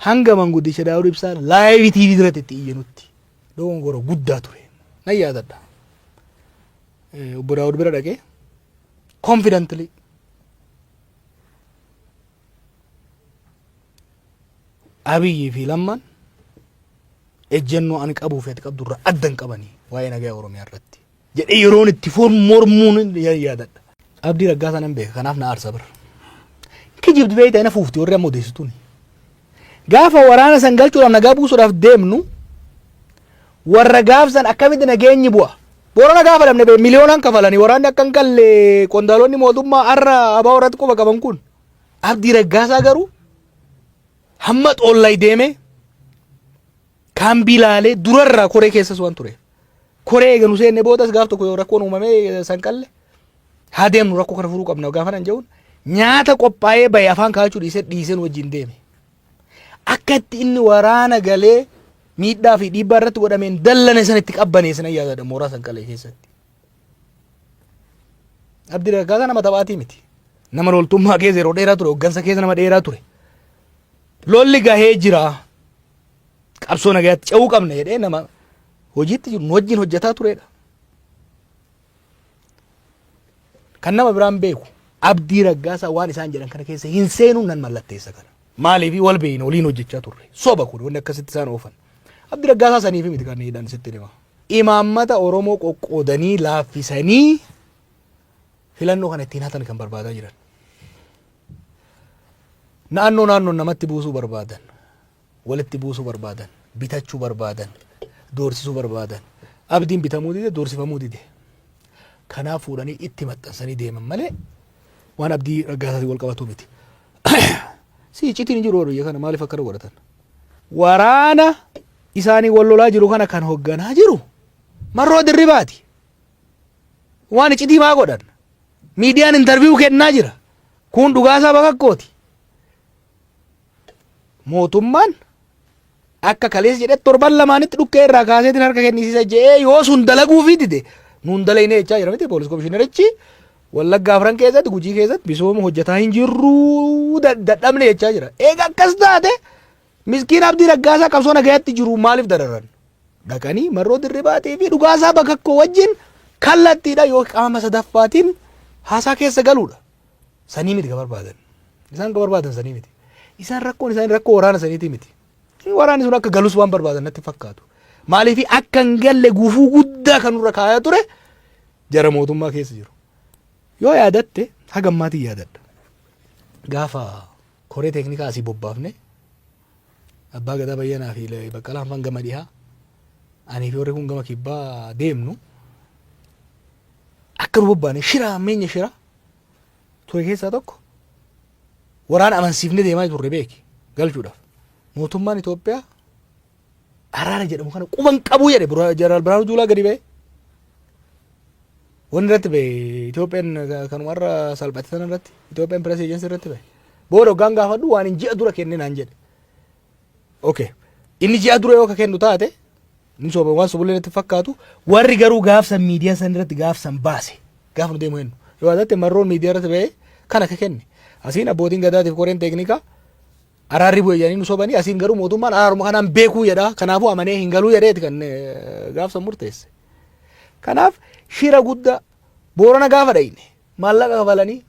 Hanga manguddicha Daawud Ibsaa laayivi TV irratti itti iyyanutti dogongora guddaa ture. Nan yaadadha. Obbo Daawud bira dhaqee confidently Abiyyii fi Lammaan ejjennoo ani qabuu fi ati qabdu irraa adda hin qabanii waa'ee nagaa Oromiyaa irratti. jedhee yeroon itti foon mormuun ya- yaadadha. Abdii Raggaasaa nan beeka kanaaf na aarsa bar. Kijibdi beeyta ina fuufti warri amma odeessituun. Gaafa waraana san galchuudhaaf nagaa buusuudhaaf deemnu warra gaafsan akkamitti nageenyi bu'a. Boorana gaafa dhabne bee miliyoonaan kafalanii waraanni akka hin galle qondaalonni mootummaa har'a abaa warratti quba qaban kun. Abdii Raggaasaa garuu hamma xoollay deemee Kaambii laalee durarraa koree keessas waan tureef. Koree eega nu seenne boodas gaaf tokko yoo rakkoon uumamee sanqalle haa deemnu rakkoo kana furuu qabna gaafa nan jedhuun nyaata qophaa'ee bahe afaan kaa'achuu dhiisee dhiisee nu wajjin deeme. Akka itti inni waraana galee miidhaa fi dhiibbaa irratti godhameen dallane sana itti qabbaneessan nan yaadadha mooraa sanqalee keessatti. Abdi Raggaasaa nama taphaatii miti. Nama loltummaa keessa yeroo dheeraa ture, hooggansa keessa nama dheeraa ture. Lolli gahee jira. qabsoo nagayaatti ce'uu qabna jedhee nama hojiitti jiru nu wajjin hojjetaa turedha. Kan nama biraan beeku abdii raggaasaa waan isaan jedhan kana keessa hin seenuun nan mallatteessa kana. Maaliif wal beeyna waliin hojjechaa turre soba kun wanni akkasitti isaan oofan. Abdii raggaasaa saniif miti kan hidhan sitti hima. Imaammata Oromoo qoqqoodanii laaffisanii filannoo kana ittiin hatan kan barbaadaa jiran. Naannoo naannoon namatti buusuu barbaadan. walitti buusuu barbaadan, bitachuu barbaadan, doorsisuu barbaadan. Abdiin bitamuu dide, doorsifamuu dide. Kanaaf fuudhanii itti maxxansanii deeman malee waan abdii raggaasaatiin wal qabatu miti. si iccitiin hin jiru biyya kana maaliif akkana godhatan? Waraana isaanii wal lolaa jiru kana kan hogganaa jiru marroo dirribaati. Waan iccitii maa godhan? Miidiyaan intarviiyuu kennaa jira. Kun dhugaasaa bakakkooti. mootummaan akka kaleessa jedhe torban lamaanitti dhukkee irraa kaaseetiin harka kennisiisa jedhee yoo sun dalaguufii dide nuun dalagne jechaa jira miti poolis komishinerichi wallaggaa afran keessatti gujii keessatti misooma hojjetaa hin jirruu da- dadhabne jechaa jira eega akkas taate miskiin abdii raggaasaa qabsoo nagayaatti jiru maaliif dararan dhaqanii marroo dirribaatii fi dhugaasaa bakakkoo wajjin kallattiidha yoo qaama sadaffaatiin haasaa keessa galuudha sanii miti ka barbaadan. Isaan ka barbaadan sanii miti. Isaan rakkoon isaanii rakkoo waraana saniitii miti. Waraanni sun akka galus waan barbaadan natti fakkaatu. Maaliif akka hin galle gufuu guddaa kan nurra kaayaa ture jara mootummaa keessa jiru. Yoo yaadatte haga ammaatiin yaadadha. Gaafa koree teeknikaa asii bobbaafne abbaa gadaa bayyanaa fi baqqalaan fan gama dhihaa anii fi warri kun gama kibbaa deemnu akka nu bobbaane shira hammeenya shira ture keessaa tokko waraana amansiifnee deemaa turre beeki galchuudhaaf. Mootummaan Itoophiyaa araara jedhamu kana quban qabuu jedhe Bura- Jeneraal Birhaanuu Juulaa gadi ba'e. Wanni irratti ba'e Itoophiyaan ka- kanuma irra salphate sana irratti Itoophiyaan Pirees Eejensi irratti ba'e. Booda hoggaan gaafadhu waan hin ji'a dura kenne naan jedhe. Okay. Inni ji'a dura yoo ka kennu taate ni soba waan sobullee natti fakkaatu warri garuu gaafsan miidiyaa san irratti gaafsan baase gaafa nu deemu kennu yoo taate marroon miidiyaa irratti ba'ee kan akka kenne asiin abbootiin gadaatiif koreen teeknikaa araarri bu'e jedhanii nu sobanii asiin garuu mootummaan araaruma kanaan beekuu jedha kanaafuu amanee hin galuu jedheeti kan eh, gaafsan murteesse kanaaf shira guddaa boorana gaafa dhayne Maallaqa kafalanii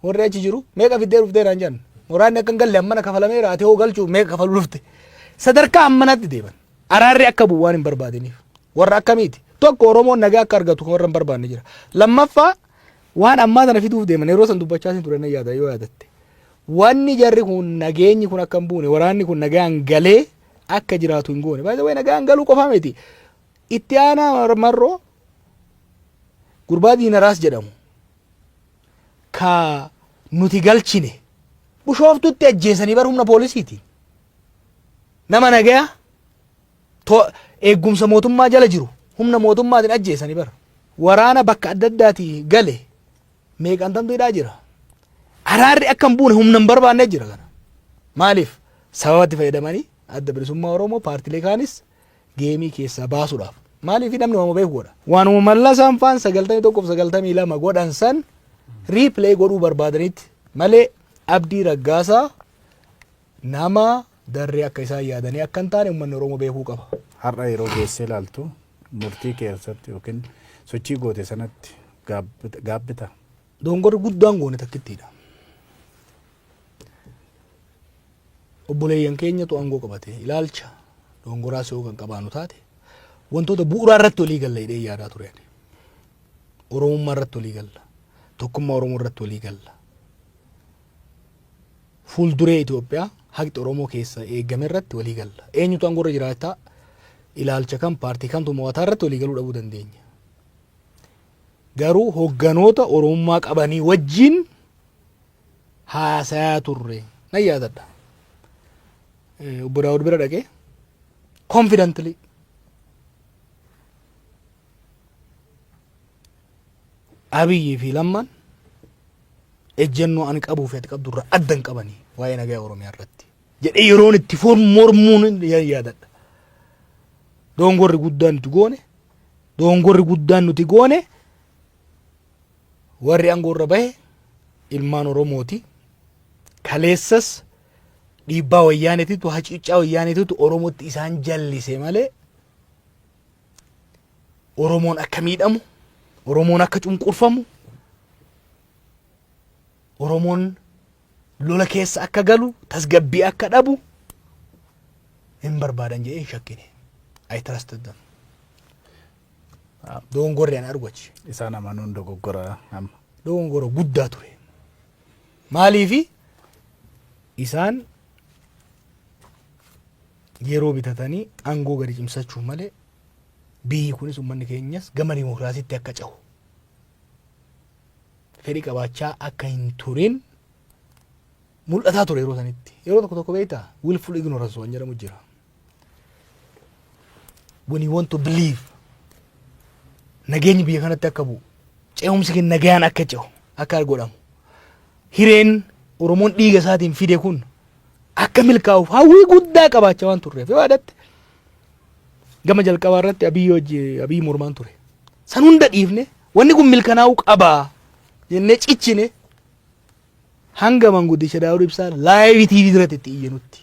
warri achi jiru meeqa fiddee dhuftee naan jedhan. Muraadni akka hin galle ammana kafalameera ati hoo galchuuf meeqa kafaluu dhufte. Sadarkaa ammanatti deeman. Araarri akka bu'u waan hin barbaadiniif. Warra akkamiiti? Tokko Oromoon nagaa akka argatu kan warra hin barbaanne jira. Lammaffaa waan ammaa sana fiduuf deeman yeroo san dubbachaa sin ture nan yaada yoo yaadatte. Wanni jarri kun nageenyi kun akka hin buune waraanni kun nagaan galee akka jiraatu hin goone. Baay'ee nagaan galuu qofaa miti. Itti aanaa marroo Gurbaa Diinaraas jedhamu ka nuti galchine Bushooftuutti ajjeesanii bar humna poolisiitiin. Nama nagaya to eeggumsa mootummaa jala jiru humna mootummaatiin ajjeesanii bar. Waraana bakka adda addaati gale meeqantamtu hidhaa jira. Araarri akka hin buune humna hin barbaanne jira kana. Maaliif? Sababatti fayyadamanii adda bilisummaa Oromoo paartilee kaanis geemii keessaa baasudhaaf. Maaliif namni waama beeku godha. Waanuma mallasaan faan 91 fi 92 godhan san riipilee godhuu barbaadanitti malee abdii raggaasaa nama darree akka isaan yaadanii akka hin taane uummanni Oromoo beekuu qaba. Har'a yeroo geessee ilaaltu murtii keessatti yookiin sochii goote sanatti gaabbita. Dongorri guddaan goone takkittiidha. obboleeyyan keenyatu aangoo qabate ilaalcha doongoraa si'oo kan qabaanu taate wantoota bu'uuraa irratti walii galla hidhee yaadaa ture ani. Oromummaa irratti walii galla. Tokkummaa Oromoo irratti walii galla. Fuulduree Itoophiyaa haqxi Oromoo keessa eegame irratti walii galla. Eenyutu aangoo irra jiraataa ilaalcha kan paartii kamtu mo'ataa irratti walii galuu dhabuu dandeenya. Garuu hogganoota Oromummaa qabanii wajjin haasayaa turre nan yaadadha. Eh, Obbo Daawud bira dhaqee confidently Abiyyii fi Lammaan ejjennoo ani qabuu fi ati qabdu irraa adda hin qabanii waa'ee nagaa Oromiyaa irratti jedhee yeroon itti foon mormuun nan yaadadha. Doongorri guddaan nuti goone doongorri guddaan nuti goone Warri aangoo irra bahe ilmaan Oromooti. Kaleessas dhiibbaa wayyaaneetitu hacuuccaa wayyaaneetitu Oromootti isaan jallise malee Oromoon akka miidhamu, Oromoon akka cunqurfamu, Oromoon lola keessa akka galu, tasgabbii akka dhabu hin barbaadan jedhee hin shakkine. I trusted them. Dogongorri ana argu achi. Isaan amanuun dogoggora amma. Dogongora guddaa ture. Maaliifi isaan yeroo bitatanii aangoo gadi cimsachuu malee biyyi kunis uummanni keenyas gama dimokiraasiitti akka cehu fedhi qabaachaa akka hin turin mul'ataa ture yeroo sanitti. Yeroo tokko tokko beektaa willful ignorance waan jedhamu jira. when you want to believe nageenyi biyya kanatti akka bu'u ce'umsi keenya nagaan akka ce'u akka godhamu hireen oromoon dhiiga isaatiin fide kun akka milkaa'uuf hawwii guddaa qabaachaa waan turreef yoo yaadatte gama jalqabaa irratti abiyyi hojii abiyyi mormaan ture san hunda dhiifne wanni kun milkanaa'uu qabaa jennee cichine hanga manguddicha daawud ibsaa laayivii tiivii irratti itti iyyanutti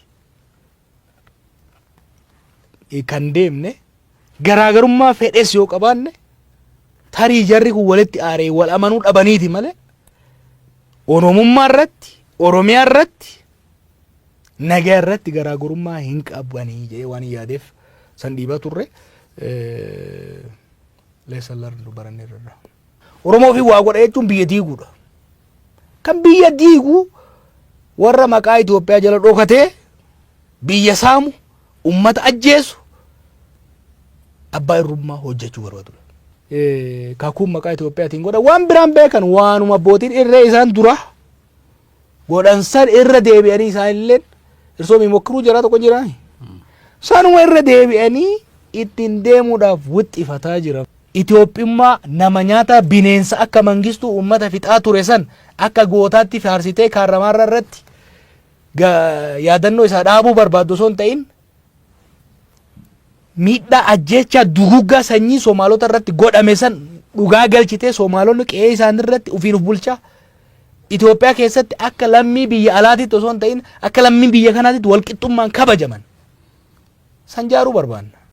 kan deemne garaagarummaa fedhes yoo qabaanne tarii jarri kun walitti aaree wal amanuu dhabaniiti malee oromummaa irratti oromiyaa irratti nagaa irratti garaagarummaa hin qabanii jedhee waan yaadeef san dhiibaa turre. Lesson learned baranneerra. Oromoo fi waa godha jechuun biyya diiguudha. Kan biyya diigu warra maqaa Itoophiyaa jala dhokatee biyya saamu, ummata ajjeesu, abbaa irrummaa hojjechuu barbaadudha. Kakuun maqaa Itoophiyaatiin godha waan biraan beekan waanuma abbootiin irree isaan dura godhan san irra deebi'anii isaan illeen irsoo mimokkiruu jaraa tokko jiraa sanuma irra deebi'anii ittiin deemuudhaaf wixxifataa jiran. Itoophiyummaa nama nyaataa bineensa akka mangistuu uummata fixaa ture san akka gootaatti faarsitee kaarramaarra irratti yaadannoo isaa dhaabuu barbaaddu osoo hin ta'in Miidhaa ajjeechaa duguuggaa sanyii Soomaalota irratti godhame san dhugaa galchitee Soomaalonni qe'ee isaanii irratti ufiin of bulchaa Itoophiyaa keessatti akka lammii biyya alaatitti osoo hin ta'in akka lammii biyya kanaatitti walqixxummaan kabajaman san jaaruu barbaanna.